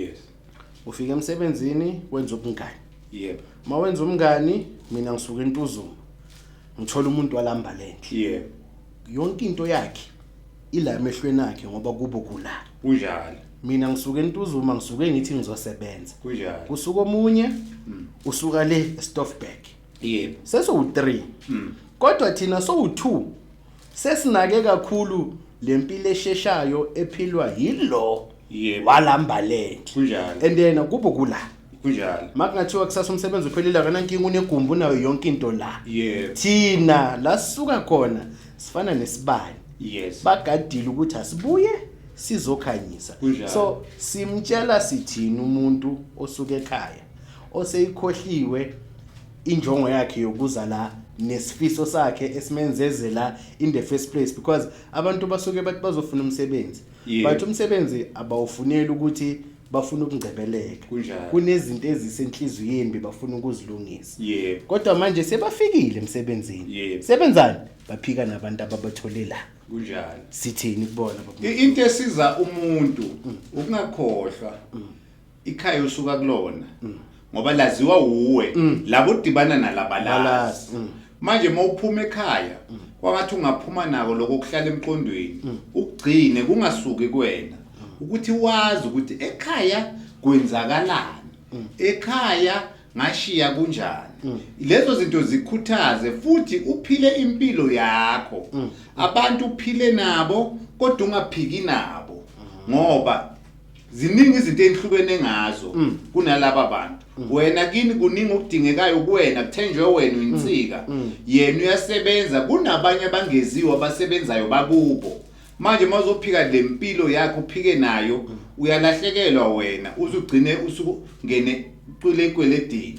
yes ufika emsebenzini wenza ubungani yebo uma wenza umngani mina ngisuke entuzuma ngithola umuntu walamba lenhle yebo yonke into yakhe ila emehlweni akhe ngoba kubo kula kunjalo mina ngisuke entuzuma ngisuke ngithi ngizosebenza kunjalo kusuka omunye mm. usuka le estoffberg yebo seso u3 mm. kodwa thina so u2 Sesinake kakhulu lempilo esheshayo ephilwa yilo Yebo. walambalent. Kunjalo. And then kubo kula. Kunjalo. Makungathiwa kusasa umsebenzi uphelile akana nkinga unegumbi unayo yonke into la. Yebo. Thina la sisuka khona sifana nesibani. Yes. Bagadile ukuthi asibuye sizokhanyisa. Kunjalo. So simtshela sithini umuntu osuke ekhaya oseyikhohliwe injongo yakhe yokuza la nesifiso sakhe esimenzeze la in the first place because abantu basuke bathi bazofuna umsebenzi yeah. but umsebenzi abawufuneli ukuthi bafuna ukungcebeleka kunezinto ezisenhliziyweni bebafuna ukuzilungisa yeah. kodwa manje sebafikile emsebenzini yeah. sebenzani baphika nabantu ababathole la kunjani sithini kubona into esiza umuntu mm. ukungakhohlwa mm. ikhaya usuka kulona ngoba laziwa wuwe labo udibana nalabalazi Balazi, mm. manje uma uphuma ekhaya kwangathi ungaphuma nako lokho kuhlala emqondweni ukugcine kungasuki kuwena ukuthi wazi ukuthi ekhaya kwenzakalani ekhaya ngashiya kunjani lezo zinto zikhuthaze futhi uphile impilo yakho abantu uphile nabo kodwa ungaphiki nabo ngoba ziningi izinto ezihlukene ngazo mm. kunalaba bantu mm. wena kini kuningi okudingekayo kuwena kuthenjwe wena uyinsika mm. yena uyasebenza kunabanye abangeziwe abasebenzayo bakubo manje mazophika le mpilo yakho uphike nayo uyalahlekelwa wena uzugcine usukungene kule kweledini